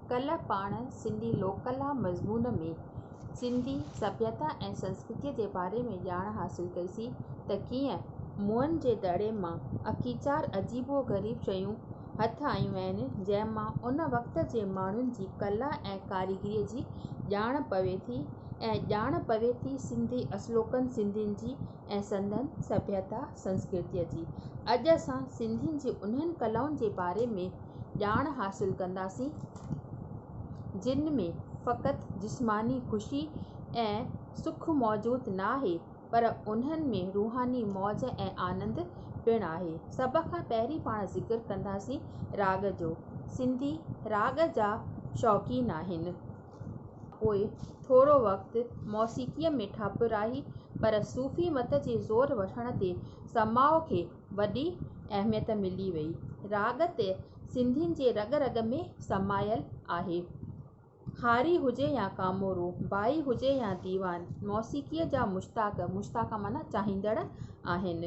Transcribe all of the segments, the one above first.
ڪلهه پاڻ سنڌي لوڪ ڪلا مضمون ۾ سنڌي سڀيتا ۽ سنسڪرتي جي باري ۾ ڄاڻ حاصل ڪئيسي ته ڪيئن موئن جي دڙي مان اڪيچار عجيب و غريب شيون هٿ آيون آهن جنهن مان ان وقت جي ماڻهن جي ڪلا ۽ ڪاريگري جي ڄاڻ پوي ٿي ۽ ڄاڻ پوي ٿي سنڌي اصلوڪن سنڌين جي ۽ سندن سڀيتا سنسڪرتيء جي. اڄ اسان سنڌين جي انهن ڪلائن جي باري ۾ ڄاڻ حاصل ڪنداسين جن ۾ فقط جسماني خوشي ۽ سک موجود ناهي پر انهن ۾ روحاني موج ۽ آنند پڻ آهي. سڀ کان پهرين پاڻ ذڪر ڪنداسين راڳ جو. سنڌي راڳ جا شوقين آهن. پوء ٿورو وقت موسيقيء ۾ ٺاپ راهي، پر صوفي مت جي زور وٺڻ تي سماع کي وڏي اهميت ملي وئي. راڳ ته سنڌين جي رڳ رڳ ۾ سمايل آهي. هاري هجي يا ڪامورو، ڀائي هجي يا ديوان، موسيقيء جا مشتاق، مشتاق معنيٰ چاهيندڙ، آهن.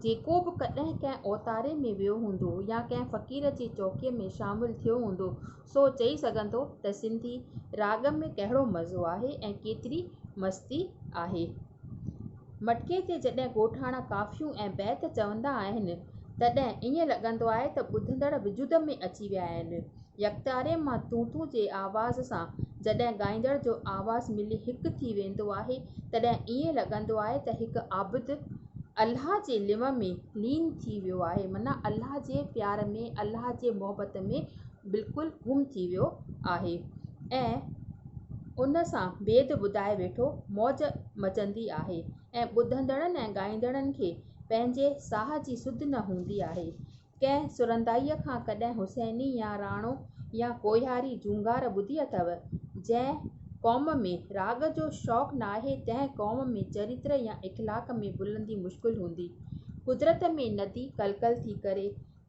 جيڪو به ڪڏهن ڪنهن اوتاري ۾ ويو هوندو يا ڪنهن فقير جي چوڪيء ۾ شامل ٿيو هوندو، سو چئي سگهن ٿو ته سنڌي راڳ ۾ ڪهڙو مزو آهي ۽ ڪيتري مستي آهي. مٽڪي تي جڏهن ڳوٺاڻا ڪافيون ۽ بيت چوندا آهن تڏهن ائين لڳندو آهي ته ٻڌندڙ وجود ۾ اچي ويا آهن. يڪتاري مان تون تون جي آواز سان جڏهن ڳائيندڙ جو آواز ملي هڪ ٿي ويندو آهي تڏهن ائين لڳندو آهي ته هڪ عابد الله جي لنو ۾ لين ٿي ويو آهي معنيٰ الله جي پيار ۾ الله جي محبت ۾ بلڪل گم ٿي ويو آهي ۽ ان سان بيد ٻڌائي ويٺو موج مچندي آهي ۽ ٻڌندڙن ۽ ڳائيندڙن کي پنهنجي ساهه جي سڌ نه هوندي آهي ڪنهن سرندائيء کان ڪڏهن حسيني يا راڻو يا ڪوهياري جهونگار ٻڌي اٿئو جنهن قوم ۾ راڳ جو شوق ناهي تنهن قوم ۾ چريتر يا اخلاق ۾ بلندي مشڪل هوندي قدرت ۾ ندي ڪلڪل ٿي ڪري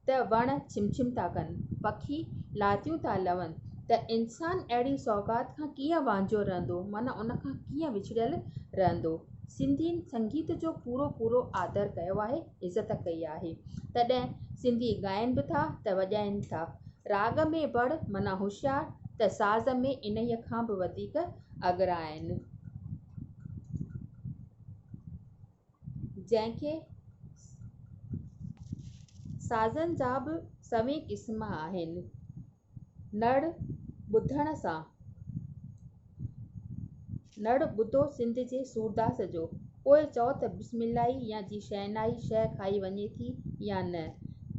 ته وڻ ڇم ڇم ٿا ڪن، پکي لاتيون ٿا لون ته انسان اهڙي سوغات کان ڪيئن وانجهو رهندو معنيٰ ان کان ڪيئن وڇڙيل رهندو. سنڌين سنگيت جو پورو پورو آدر ڪيو آهي، عزت ڪئي آهي. تڏهن سنڌي ڳائين به ٿا ته وڄائين ٿا. راڳ ۾ بڙ معنيٰ هوشيار ته ساز ۾ انهيء کان به وڌيڪ اڳرا آهن. جنهن کي سازن جا به سوين قسم آهن نڙ ٻڌڻ سان نڙ ٻڌو سنڌ جي سورداس جو پوء چئو ته بسم الله ئي يا جي شهنائي شهه کائي وڃي ٿي يا نه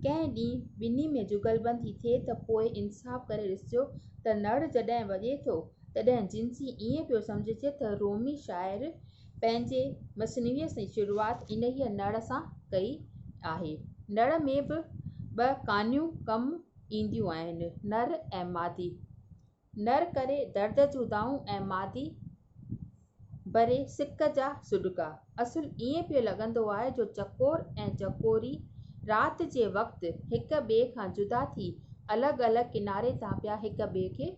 ڪنهن ڏينهن ٻنهي ۾ جغلبندي ٿئي ته پوء انصاف ڪري ڏسجو ته نڙ جڏهن وڄي ٿو تڏهن جنسي ائين پيو سمجهجي ته رومي شاعر پنهنجي مثنويء جي شروعات انهيء نڙ سان ڪئي آهي. نڙ ۾ به ٻه ڪانيون ڪم اينديون آهن، نر ۽ مادي. نر ڪري درد جون دانهون ۽ مادي ڀري سڪ جا سڏڪا. اصل ائين پيو لڳندو آهي جو چڪور ۽ چڪوري رات جي وقت هڪ ٻئي کان جدا ٿي الڳ الڳ ڪناري تان پيا هڪ ٻئي کي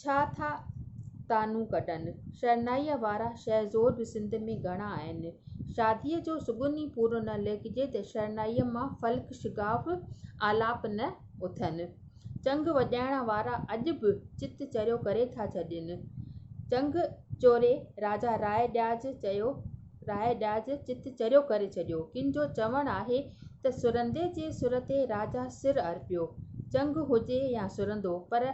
ڇا ٿا طعنون ڪڍن. شرنائيء وارا شهر زور به سنڌ ۾ گهڻا آهن. شاديء جو سڳون ئي پورو نه ليکجي ته شرنائيء مان فلڪ شگاف آلاپ نه اٿن. چنگ وڄائڻ وارا اڄ به چت چريو ڪري ٿا ڇڏين. چنگ چوري راجا راء ڏياج چيو. راء ڏاج چت چريو ڪري ڇڏيو. ڪن جو چوڻ آهي ته سرندي جي سر تي راجا سر ارپيو. چنگ هجي يا سرندو پر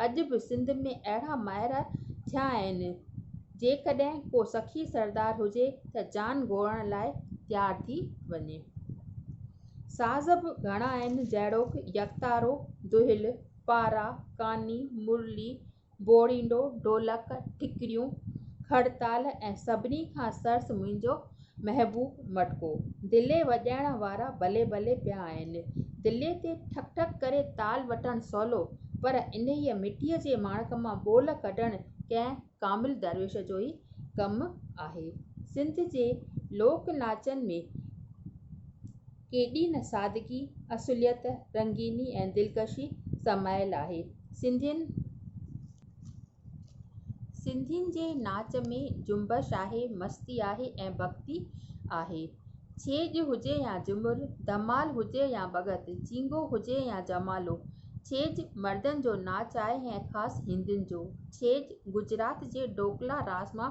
اڄ به سنڌ ۾ اهڙا مائر ٿيا آهن جيڪڏهن ڪو سخي سردار هجي ته جان گوئڻ لاء تيار ٿي وڃي. ساز به گهڻا آهن جهڙوڪ، يڪتارو، دهل، پارا، ڪاني، مرلي، بورينڊو، ڍولڪ، ٺڪريون، کڙ تال ۽ سڀني کان سرس منهنجو محبوب مٽڪو. دلي وڄائڻ وارا بلي بلي پيا آهن. دلي تي ٺڪ ٺڪ ڪري تال وٺڻ سولو، پر انهيء مٽيء جي ماڻڪ مان ٻول ڪڍڻ ڪنهن ڪامل درويش جو ئي ڪم آهي. سنڌ جي لوڪ ناچن ۾ ڪيڏي نه سادگي، اصليت، رنگيني ۽ دلڪشي سمايل آهي. سنڌين سنڌين جي ناچ ۾ جنبش آهي، مستي آهي ۽ ڀڳتي آهي. ڇيڄ هجي يا جهمر، ڌمال هجي يا ڀڳت، جينگو هجي يا جمالو، ڇيڄ مردن جو ناچ آهي ۽ خاص هندين جو. ڇيڄ گجرات جي ڍوڪلا راس مان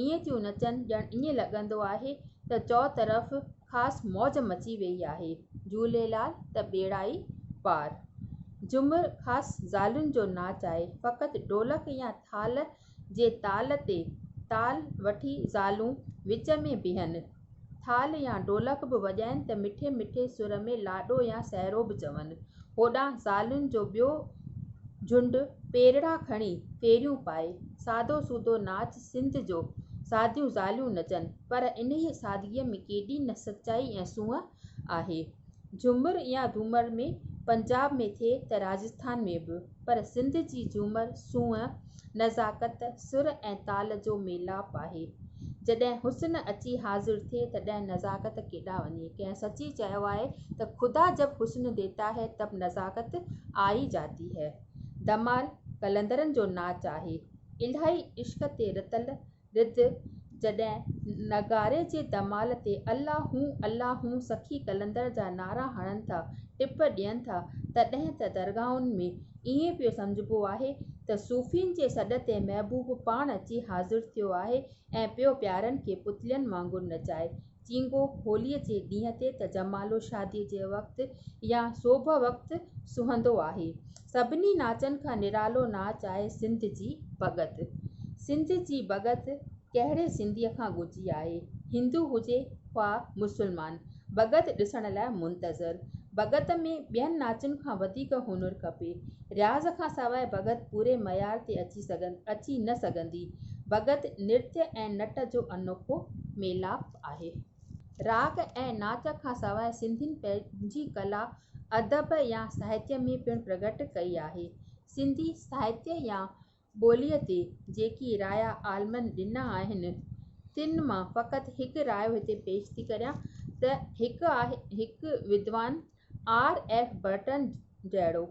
ائين ٿيون نچن ڄڻ ائين لڳندو آهي ته چوطرف خاص موج مچي ويئي آهي. جهوليلال ته ٻيڙا ئي پار. جهومر خاص زالن جو ناچ آهي. فقط ڍولڪ يا ٿالهه جي تال تي تال وٺي زالون وچ ۾ بيهن. ٿالهه يا ڍولڪ به وڄائين ته مٺي مٺي سر ۾ لاڏو يا سهرو به چون. هوڏانهن زالن جو ٻيو جهنڊ پيرڙا کڻي ڦيريون پائي، سادو سودو ناچ سنڌ جو ساديون زاليون نچن، پر انهيء سادگيء ۾ ڪيڏي نه سچائي ۽ سونهن آهي. جهومر يا ڌومر ۾ پنجاب ۾ ٿئي ته راجسٿان ۾ به. پر سنڌ جي جهومر سونهن، نزاڪت، سر ۽ تال جو ميلاپ آهي. جڏهن حسن اچي حاضر ٿئي تڏهن نزاڪت ڪيڏانهن وڃي؟ ڪنهن سچي چيو آهي ته خدا جب حسن ديتا هي تب نزاڪت آئي جاتي هي. ڌمال قلندرن جو ناچ آهي. الاهي عشق تي رتل رت، جڏهن نغاري جي دمال تي الله هون الله هون سخي قلندر جا نعرا هڻن ٿا، ٽپ ڏين ٿا، تڏهن ته درگاهن ۾ ائين پيو سمجهبو آهي ته صوفين جي سڏ تي محبوب پاڻ اچي حاضر ٿيو آهي ۽ پيو پيارن کي پتلين وانگر نچائي چينگو هوليء جي ڏينهن تي ته جمالو شاديء جي وقت يا سوڀ وقت سهندو آهي. سڀني ناچن کان نرالو ناچ آهي سنڌ جي ڀڳت. سنڌ جي ڀڳت ڪهڙي سنڌيء کان ڳجهي آهي. هندو هجي خواه مسلمان، ڀڳت ڏسڻ لاء منتظر. ڀڳت ۾ ٻين ناچن کان وڌيڪ هنر کپي. رياض کان سواء ڀڳت پوري معيار تي اچي اچي نه سگهندي. ڀڳت نرت ۽ نٽ جو انوکو ميلاپ آهي. راڳ ۽ ناچ کان سواء سنڌين پنهنجي ڪلا ادب يا ساهتيه ۾ پڻ پرگهٽ ڪئي آهي. سنڌي ساهتيه يا ٻوليء تي جيڪي رايا عالمن ڏنا آهن، تن مان فقط هڪ رايو هتي پيش ٿي ڪريان ته هڪ آهي هڪ ودوان آر ايف برٽن جهڙو،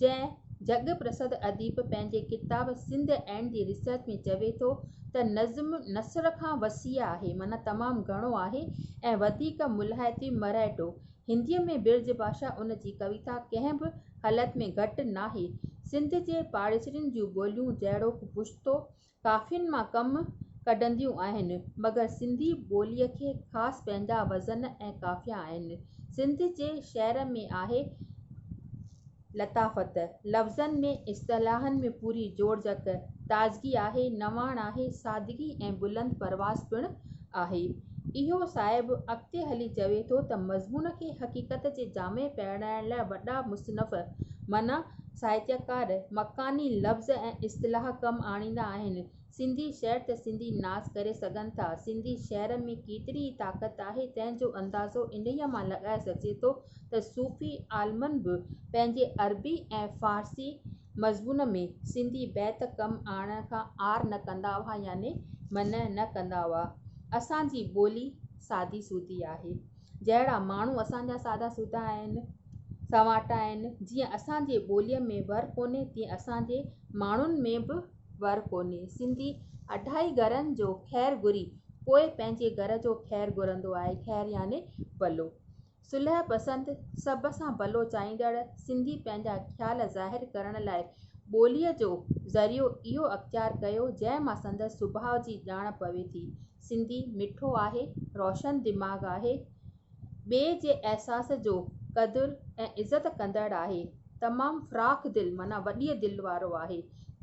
جنهن جڳ پرسڌ اديب پنهنجي ڪتاب سنڌ اينڊ دي ريسرچ ۾ چوي ٿو ته نظم نثر کان وسيع آهي معنيٰ تمام گهڻو آهي ۽ وڌيڪ ملهائتي مرهيٽو هنديء ۾ برج ڀاشا ان جي ڪويتا ڪنهن به حالت ۾ گهٽ ناهي. سنڌ جي پاڙيسرين جون ٻوليون جهڙوڪ پشتو، ڪافين مان ڪم ڪڍنديون آهن، مگر سنڌي ٻوليء کي خاص پنهنجا وزن ۽ قافيا آهن. سنڌ جي شعر ۾ آهي. لطافت، لفظن ۾ اصطلاحن ۾ پوري جوڙجڪ، تازگي آهي، نواڻ آهي، سادگي ۽ بلند پرواز پڻ آهي. اهو صاحب اڳتي هلي چوي ٿو ته مضمون کي حقيقت جي جامي پهرائڻ لاء وڏا مصنف معنيٰ ساهتيڪار مڪاني لفظ ۽ اصطلاح ڪم آڻيندا آهن، سنڌي شهر ته سنڌي ناز ڪري سگهن ٿا. سنڌي شهر ۾ ڪيتري ئي طاقت آهي تنهن جو اندازو انهيء مان لڳائي سگهجي ٿو ته صوفي عالمن به پنهنجي عربي ۽ فارسي مضمون ۾ سنڌي بيت ڪم آڻڻ کان عار نه ڪندا هئا يعني منع نه ڪندا هئا. اسان جي ٻولي سادي سودي آهي. جهڙا ماڻهو اسان جا سادا سودا آهن، سنواٽا آهن، جيئن اسان جي ٻوليء ۾ ور ڪونهي تيئن اسان جي ماڻهن ۾ به ور ڪونهي. سنڌي اڍائي گهرن جو خير گهري پوء پنهنجي گهر جو خير گهرندو آهي. خير يعني ڀلو. صلح پسند، سڀ سان ڀلو چاهيندڙ سنڌي پنهنجا خيال ظاهر ڪرڻ لاء ٻوليء جو ذريعو اهو اختيار ڪيو، جنهن مان سندس سڀاء جي ڄاڻ پوي ٿي. سنڌي مٺو آهي، روشن دماغ آهي. ٻئي جي احساس جو قدر ۽ عزت ڪندڙ آهي تمام فراخ دل معنيٰ وڏيء دل وارو آهي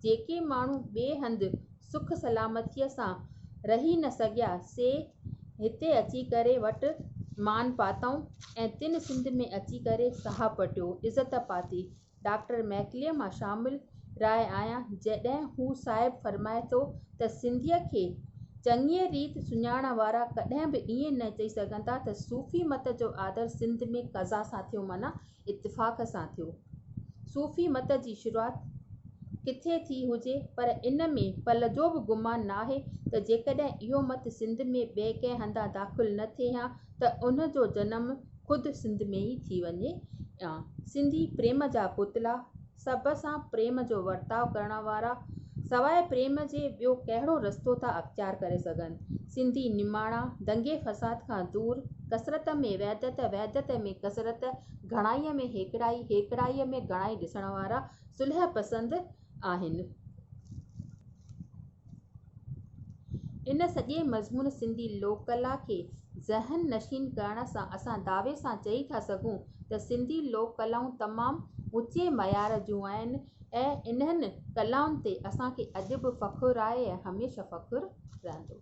جيڪي ماڻهو ٻئي هنڌ سک سلامتيء سان رهي نه سگهيا سي هتي اچي ڪري وٽ مان پاتائون ۽ تن سنڌ ۾ اچي ڪري ساهه پٽيو عزت پاتي ڊاڪٽر ميڪليء مان شامل راء آهيان، جڏهن هو صاحب فرمائي ٿو ته سنڌيء کي چڱيء ريت سڃاڻڻ وارا ڪڏهن به ائين نه چئي سگهن ٿا ته صوفي مت جو آڌر سنڌ ۾ قضا سان ٿيو معنيٰ اتفاق سان ٿيو. صوفي مت جي شروعات ڪٿي ٿي هجي پر ان ۾ پل جو به گمان ناهي ته جيڪڏهن اهو مت سنڌ ۾ ٻئي ڪنهن هنڌان داخل نه ٿئي هان ته ان جو جنم خود سنڌ ۾ ئي ٿي وڃي ها. سنڌي پريم جا پتلا، سڀ سان پريم جو ورتاء ڪرڻ وارا، سواء پريم جي ٻيو ڪهڙو رستو ٿا اختيار ڪري سگهن. سنڌي نماڻا، دنگي فساد کان دور، ڪثرت ۾ وحدت، وحدت ۾ ڪثرت، گهڻائيء ۾ هيڪڙائي، هيڪڙائيء ۾ گهڻائي ڏسڻ وارا، صلح پسند، آهن. ان سڄي مضمون سنڌي لوڪ ڪلا کي ذهن نشين ڪرڻ سان اسان دعوي سان چئي ٿا سگهون ته سنڌي لوڪ ڪلائون تمام اوچي معيار جون آهن ۽ انهن ڪلائن تي اسان کي اڄ به فخر آهي ۽ هميشه فخر رهندو.